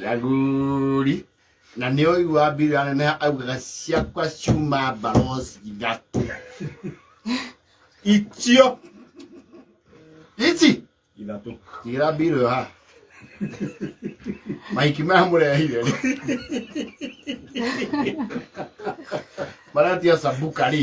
Jaguri. Na nĩ ũigua mbiri aneneha augaga ciakwa ciuma mbarosi ithatũ. Icio. Ici. Ithatũ. Tigĩra mbiri ũyũ haha. Mahiki maya mũrehire rĩ. Maratia sambuka rĩ.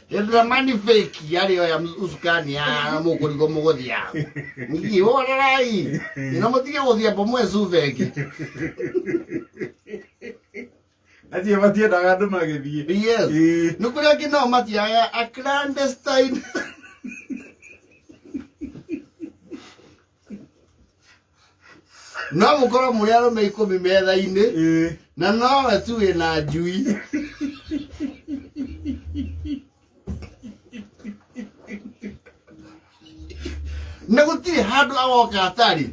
Hĩndĩrĩa mani fake yarĩ oya usukani ya mũkũrigo mũgũthia ihũrerai ino mũtige gũthia mbomu ecuba ĩngĩ acio matiendaga andũ magĩthiĩ yes Ĩĩ. nĩ kũrĩa angĩ nao matiaga a clandestine no mũkorwo mũrĩ arũme ikũmi metha-inĩ Eh. na nowe tu wĩ na njui na gũtirĩ handũ agoka atarĩ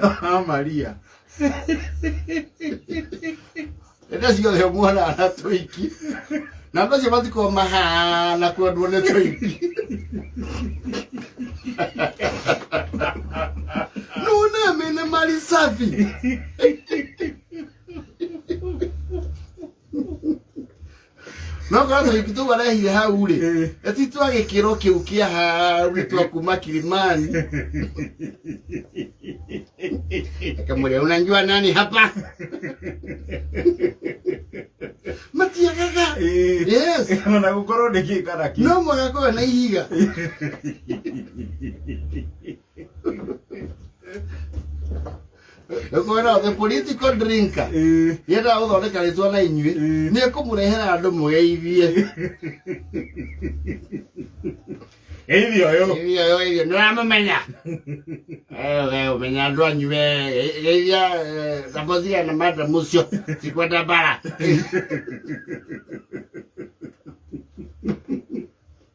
Ah, Maria. Ende ciothe muona na tũiki. Na andũ acio matikoo mahana kwendwo nĩ tũiki. Nune mene mali safi. no korwo ta rĩngĩ tũu arehire hau rĩ Eh. na ti twa gĩkĩro kĩu kĩa hau nĩ twa kuma kilimani akamwĩria unanjua nani hapa matiagaga Eh. yes ona gukorwo ndikikana ki no mũgakorwo na ihiga kwona the political drinker Eh, yendaga gũthondeka rĩtwa na inyuĩ Mm. nĩ kũmũrehera andũ mũgeithie geithio yo irio yo irio nĩ ũramũmenya ũmenya andũ anyu we ge- geithia eh, thambothia na madam ũcio cikwenda mbara